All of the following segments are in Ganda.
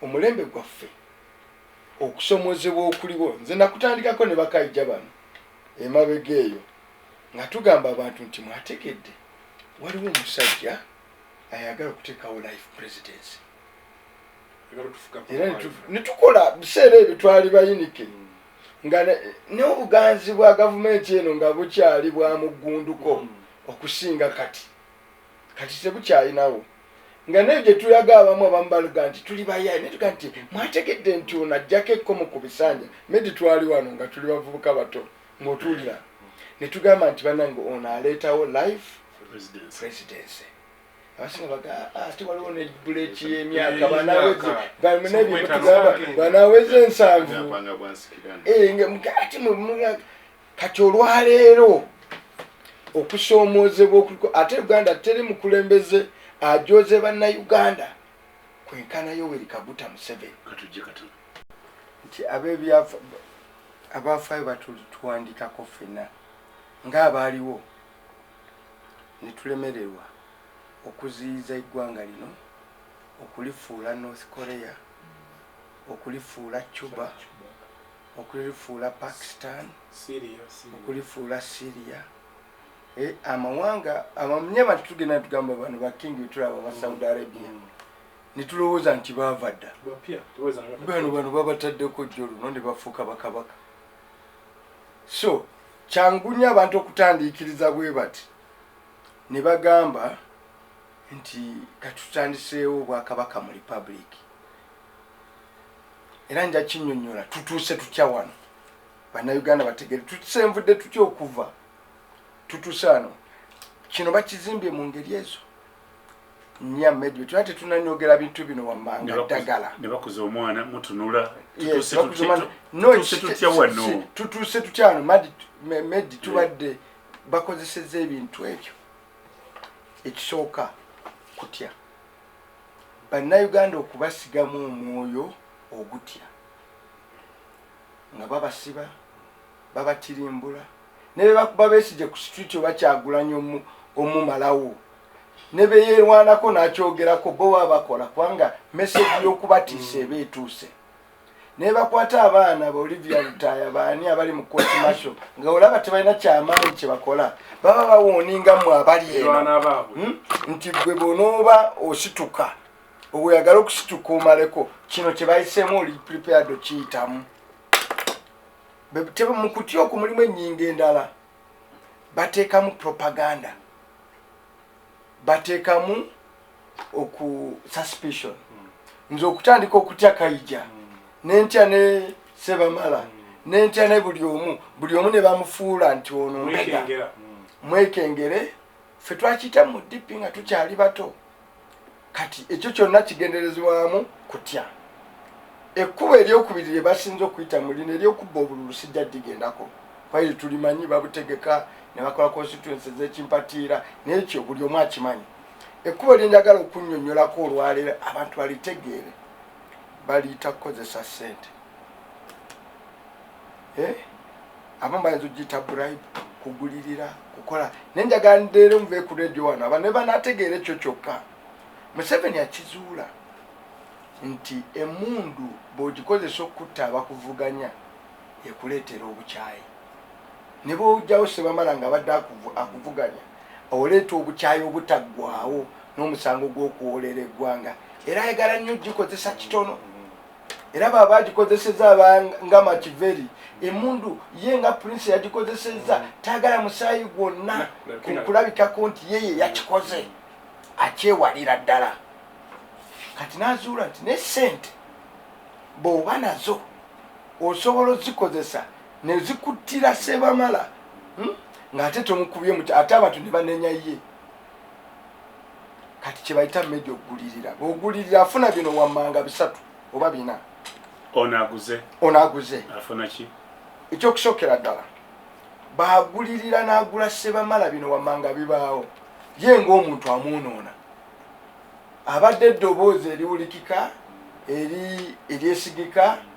omulembe gwaffe okusomozebwa okuliwo nze nakutandikako ne bakaija bano emabega eyo nga tugamba abantu nti mwategedde waliwo omusajja ayagala okuteekawo life presidency era netukola biseera ebyo twali bayinike mm. nga n'obuganzi bwa gavumenti eno nga bukyali bwa muggunduko mm. okusinga kati kati tebukyalinawo nga naye gyetulaga abamu abamu baluga nti tuli bayaye naye tuga nti mwategedde nti ono ajjako ekkomo ku bisanja medi twali wano nga tuli bavubuka bato ngaotuwulira netugamba nti banange ono aleetawo life presidency abasinga baga ah, ate waliwo ne buleki yemyaka banaweza ensanvu eh, ati kati olwaleero okusoomoozebwa okuliko ate uganda teri mukulembeze ajoze bannayuganda kwenkana yoweri kaguta museveni nti abebyafa abafaayo batutuwandikako ffena ng'abaaliwo ne tulemererwa okuziyiza eggwanga lino okulifuula north korea okulifuula cuba okulifuula Pakistan, okulifuula Syria eh, amawanga amamnye abantu tugenda netugamba bano bakingi betulaba ba Saudi mm. Arabia mm. netulowooza nti baava dda bano bano babataddeko jjo luno ne bafuuka bakabaka so kyangu nnyo abantu okutandiikiriza bwe bati ne bagamba nti katutandiseewo obwakabaka mu republiki era nja kinyonyola tutuuse tutya wano bannayuganda bategere tusenvudde tutya okuva tutuuse wano kino bakizimbye mu ngeri ezo nya medio tuba tetunanyogera bintu bino wammanga ddagala nebakuza omwana mutunula tutuuse tutya wano medi tubadde bakozeseza ebintu ebyo ekisooka kutya Bannayuganda okubasigamu omwoyo ogutya nga babasiba, babatirimbula ne bwe bakuba Besigye ku street oba Kyagulanyi omumalawo ne be yeerwanako n'akyogerako bo baba bakola kubanga message y'okubatiisa eba etuuse. nebakwata abaana ba olivia lutaya baani abali mu koti masho nga olaba tebalina kyamaanyi kyebakola baba bawooninga mwe abali eno hmm? nti gwe bonooba osituka oyagala okusituka omaleko kino kyebayisemu oli prepared okiyitamu mukutya oku mulimu enyinga endala bateekamu propaganda bateekamu oku suspicion mm. nze okutandika okutya kaija mm. nentya ne sebamala mm. nentya ne buli omu buli omu ne bamufuula nti ono mbega mwekengere fe twakiyita mu dipi nga tukyali bato kati ekyo kyonna kigenderezebwamu kutya ekkubo eryokubiri lye basinza okuyita mu lino eryokubba obululu sijja digendako kwaye tulimanyi babutegeka ne bakola constituensi ezekimpatiira nekyo buli omu akimanyi Ekkubo lye njagala okunnyonnyolako olwaleero abantu balitegeere baliyita kukozesa ssente eh? abamu bayinza okugiyita bribe kugulirira kukola naye njagala ndeere muve ku redio wano aba ne banategeera ekyo kyokka museveni akizuula nti emundu bw'ogikozesa okukutta abakuvuganya ekuleetera obukyayi ne bw'ojjawo sebamala nga abadde akuvuganya Oleeta obukyayi obutaggwaawo n'omusango gw'okuwoolera eggwanga era ayagala nnyo okugikozesa kitono era baba agikozeseza nga makiveri emundu ye nga prince yagikozeseza mm. tayagala musaayi gwonna kulabikako nti ye ye yakikoze akyewalira ddala kati nazuula nti ne sente bwoba nazo osobola ozikozesa ne zikuttira Sebamala hmm? ng'ate tomukubye muti ate abantu ne banenya ye kati kye bayita meja okugulirira ogulirira afuna bino wammanga bisatu oba bina ono aguze ono aguze afuna ki ekyokusookera ddala baagulirira n'agula sebamala bino wammanga bibaawo ye ng'omuntu amwonoona abadde eddoboozi eriwulikika eri eryesigika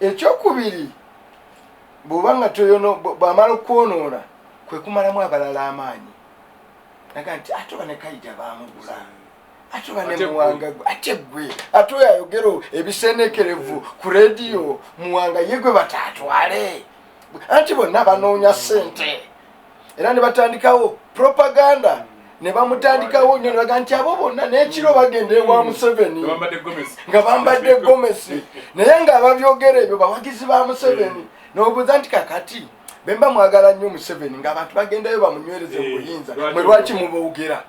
ekyokubiri bwoba nga toyono bwamala okwonoona kwekumalamu abalala amaanyi naga nti ate oba nekayija bamugula ate oba nemuwanga gwe ate gwe ate oyo ayogero ebisenekerevu ku rediyo muwanga ye gwe bataatwale anti bonna banoonya sente era ne batandikawo propaganda ne bamutandikawo nyo nebaga nti abo bonna n'ekiro bagenda ewa museveni nga bambadde gomesi naye nga ababyogera ebyo bawagizi ba museveni nobuuza nti kakati bemba mwagala nnyo museveni ng'abantu bagendayo bamunywereze mu buyinza mwe lwaki mubogera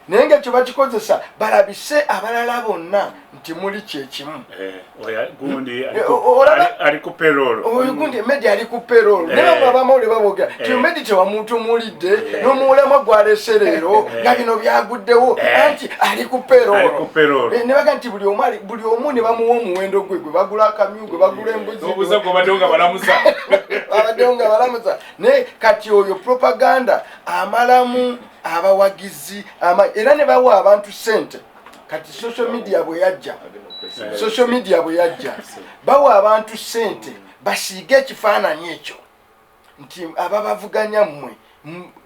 naye nga kye bakikozesa balabise abalala bonna nti muli kyekimu eh, eh, gundi ali ku perol medi ali ku perol nabamawule eh. babogera ti medi tewamuntu mulidde nomuwulama gwalese leero nga bino byaguddewo anti ali ku perol nebaga nti buli omu ne bamuwa omuwendo gwe gwe bagula akamyu gwe bagula embuzibaddewo nga balamusa naye kati oyo propaganda amalamu abawagizi era ne bawa abantu sente kati social media bwe yajja social media bwe yajja bawa abantu sente basiige ekifaananyi ekyo nti ababavuganya mmwe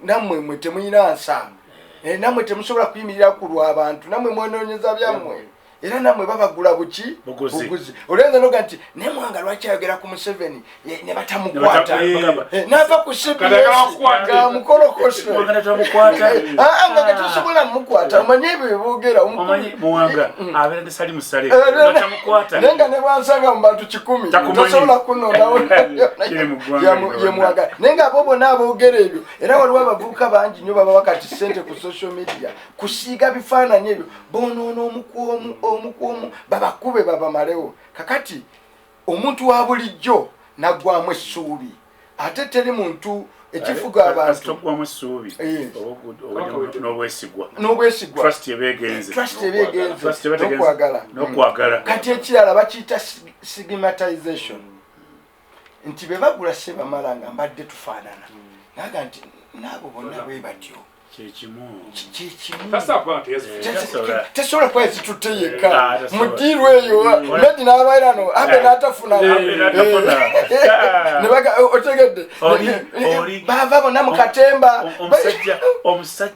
nammwe mwe temuyina nsaano eh, nammwe temusobola kuyimirira ku lw'abantu nammwe mwenoonyeza byammwe era namwe babagula buki buguzi olenza noga nti naye mwanga lwaki ayogera ku museveni ne batamukwata eh, nava ku cbsgamukolokoso ah, nga tetusobola mukwata omanye ebyo byeboogera naye nga nebwansanga mu bantu kikumi tosobola kunonawo yemwagala naye nga abo bona aboogera ebyo era waliwo abavubuka bangi nyo baba wakati sente ku social media kusiiga bifaananyi ebyo bonoona omukwomu omukwomu babakube babamalewo kakati omuntu wa bulijjo naggwamu essuubi ate teri muntu ekifuga abantugwamu essuubi eh. n'obwesigwa n'obwesigwanobwesigwanokwagalanokwagala kati ekirala bakiyita stigmatization nti be bagula sebamala nga mbadde tufaanana naga nti naabo bonna bwe batyo tesobola kuba ezitutte yekka mudiiru eyo medi n'abairano ambe n'atafuna otegedde bava bona mu katemba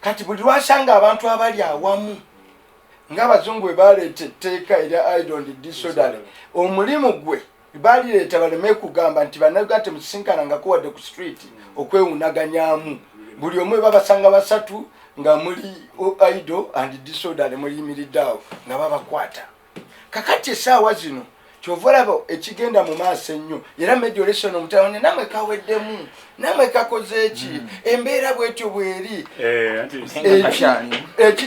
kati buli lwasanga abantu abali awamu ng'abazungu bwe baleeta etteeka erya idond disodale omulimu gwe balireeta baleme kugamba nti bannayuganda temusisinkanangako wadde ku street okwewunaganyamu buli omu ebabasanga basatu nga muli ido and disodale muyimiridde awo nga babakwata kakati esaawa zino kyova olaba ekigenda mu maaso ennyo era mediolation omutaone namwe kaweddemu namwe kakoze eki mm. embeera bwetyo bweri eh,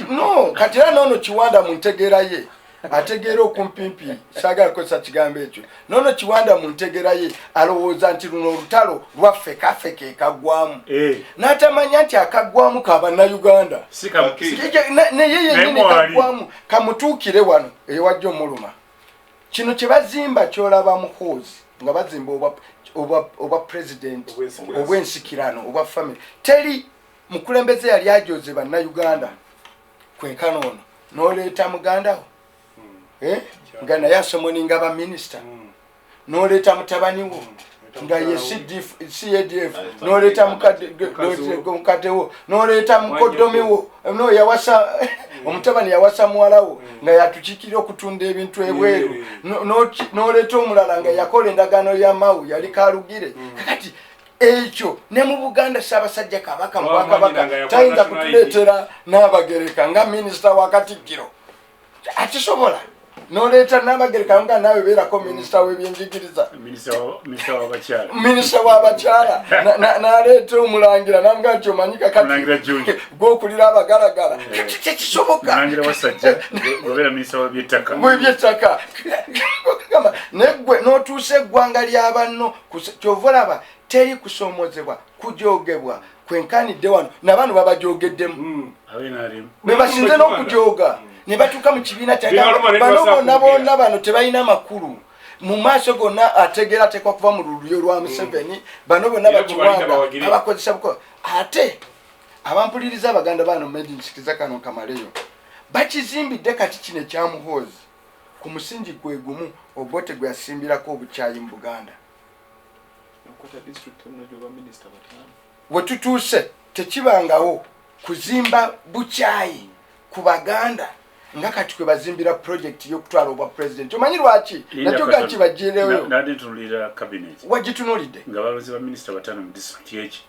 no kati era noono kiwanda mu ntegeera ye ategeera okumpimpi sagala kukozesa kigambo ekyo nono kiwanda mu ntegera ye alowooza nti luno olutalo lwaffe kaffe ke kagwamu eh. n'atamanya nti akagwamu ka bannayuganda naye yenyini kagwamu kamutuukire wano eyowajja omuluma kino kye bazimba kyolaba muhoozi nga bazimba obwa pulezidenti obw'ensikirano obwa famiry teri mukulembeze yali ajoze bannayuganda kwenkana ono n'oleeta mugandawo hmm. eh? nga naye asomoninga ba minisita hmm. noleeta mutabani wo hmm. nga ye cadf noleeta mukadde wo noleeta mukoddomi wo no yawasa omutabani yawasa muwala wo nga yatukikira okutunda ebintu ebweru noleeta omulala nga yakola endagaano ya mawu yali kalugire kakati ekyo ne mu buganda ssaabasajja kabaka mubwakabaka tayinza kutuleetera n'abagereka nga minisita wa katikkiro akisobola noleeta namagereka nga naawe beerako minisita webyenjigiriza minisita wabakyala naleeta omulangira namuga nti omanyi kakatgwokulira abagalagala kyekisobokabyettaka negwe notuusa eggwanga lyabanno kyova olaba teri kusoomozebwa kujogebwa kwenkanidde wano nabano babajogeddemu hmm. bebasinze n'okujoga hmm. ne batuuka mu kibiina kyabano bonna bonna bano tebalina makulu mu maaso gonna ategeera ateekwa kuva mu lulyo lwa hmm. museveni bano bonna bakiwanga abakozesa buko ate abampuliriza abaganda bano medinsikiza kano kamaleyo bakizimbidde kati kino ekyamuhoozi ku musingi gwe gumu obote gwe yasimbirako obukyayi mu buganda wetutuuse tekibangawo kuzimba bukyayi ku baganda nga kati kwe bazimbira pulojekiti y'okutwala obwa pulezidenti omanyi lwaki nakyo gakibajjireyo wagitunulidde nga balozi ba minisita batano mu disitulikiti eki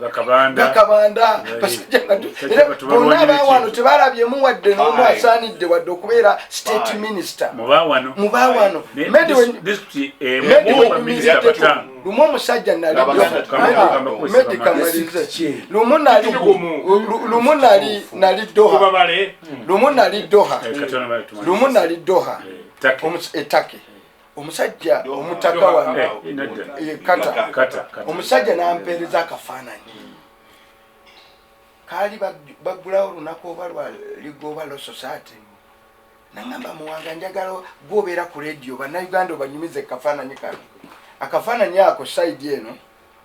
gakabanda bonna bawano tebalabyemu wadde nomu asaanidde wadde okubeera state minister mubawano lumu omusajja nalilumu nali doha lumu nali doha lumu nali doha etake omusajja omutaka wange eh, eh, kata omusajja nampeereza akafaananyi kaali bagulawo olunaku oba lwaligoba lososaati nangamba muwanga njagala gwobeera ku rediyo bannayuganda obanyumiza ekafaananyi kano akafaananyi ako saidi eno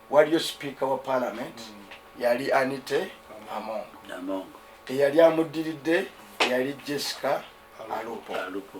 waliyo sipiika wa paalamenti mm. yali anite amongo eyali amuddiridde yali jessica alupo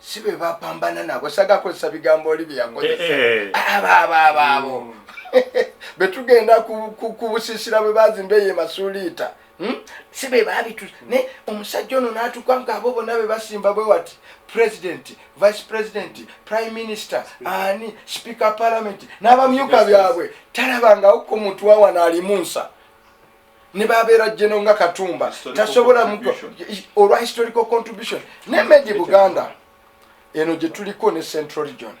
si be bapambana nabo sagakozesa bigambo oli byeyakozesa eh, eh. abaabaabaabo mm. be tugenda kubusisira bwe bazimba eyo emasuuliita hmm? si be babitu naye omusajja ono n'atuka ngaabo bonna be basimba bwe wati president vice president prime minister ani speaker parliament n'abamyuka byabwe talabangawo ku muntu wawana alimu nsa ne babeera jeno nga katumba tasobola olwa historical contribution ne medi buganda eno gye tuliko ne central region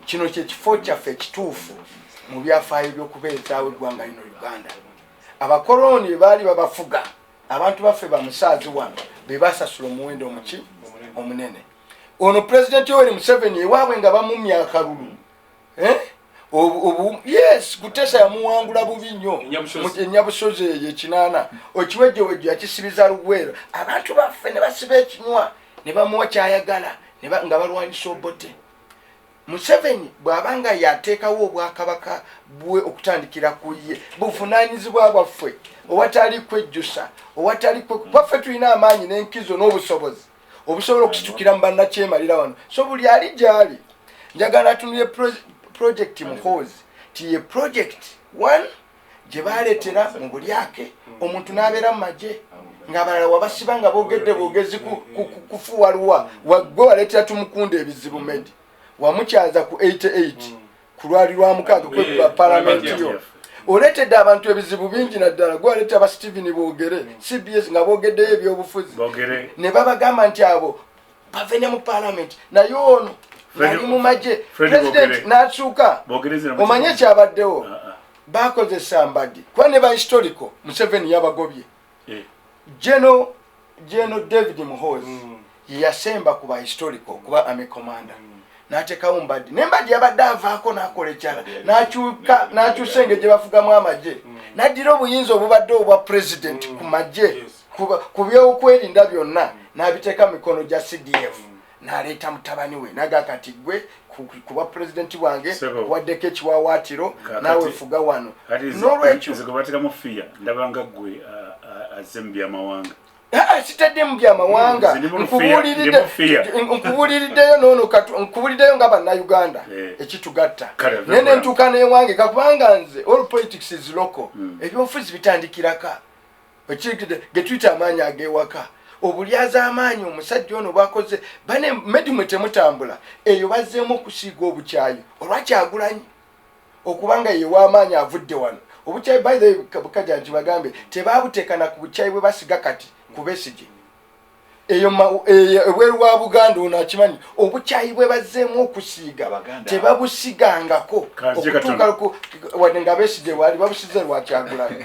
kino kyekifo kyaffe ekituufu mu byafaayo byokubeezaawo eggwanga lino uganda abakolooni bebaali babafuga abantu baffe bamusaazi wano bebasasula omuwendo omuki omunene ono pulezidenti oweri museveni ewaabwe nga bamumya akalulu eh? yes kutesa yamuwangula bubi nnyo enyabusozi eyo ekinaana okiwejjowejjo yakisibiza lugwero abantu baffe ne basiba ekinywa ne bamuwa kyayagala nga balwanyisa obote museveni bw'aba nga yateekawo obwakabaka bwe okutandikira ku ye buvunaanyizibwa bwaffe owatali kwejjusa owatali kwaffe tulina amaanyi n'enkizo n'obusobozi obusobola okusitukira mu bannakyemalira wano so buli ali gyali njagala atunulye projekiti muhoozi ti ye projekiti one gye baleetera mu bulyake omuntu n'abeera mu magye ng'abalala wabasiba nga boogedde boogezi kufuwaluwa waggwe waleetera tumukunda ebizibu medi wamukyaza ku 88 kulwali lwa mukaaga kwekuba palamenti yo oletedde abantu ebizibu bingi naddala gwaleta aba steven bogere cbs nga bogeddeyo ebyobufuzi ne babagamba nti abo bave ne mu palamenti naye ono ali mu magye pulezidenti n'akyuka omanye ekyabaddewo ah, ah. bakozesa mbagi kuba ne ba historical museveni yabagobye eh. general general david muhozi mm. yeyasemba ku ba historical kuba ame commander mm. natekawo mbadi ne mbadi yabadde avaako nakola ekyala nakyuka nakyusa engeri gye bafugamu amagye mm. naddira obuyinza obubadde obwa president mm. ku magye ku byokwerinda byonna mm. nabiteeka mikono gya cdf mm. naleeta mutabani we naga kati gwe kuba pulezidenti bwange waddeko ekiwawaatiro naawe fuga wano nolwekyobatekamufiya ndabanga gwe azze mu byamawanga sitadde mu byamawanga nkubuliriddeyo nono nkubuliriddeyo nga bannauganda eh. ekitugatta naye nentuuka newange kakubanga nze all politics is local hmm. ebyobufuzi bitandikiraka getuyita amaanyi agewaka obulyaza amaanyi omusajja ono bwakoze bane medimwe temutambula eyo bazzeemu okusiiga obukyayi olwakyagulanyi okubanga yewa amaanyi avudde wano obukyayi by the bukaja nti bagambe tebabutekana ku bukyayi bwe basiga kati kubesigi eyo ebweru wa buganda ono akimanyi obukyayi bwe bazzeemu okusiiga tebabusigangako okutuuka nga besigye waali babusize lwakyagulayo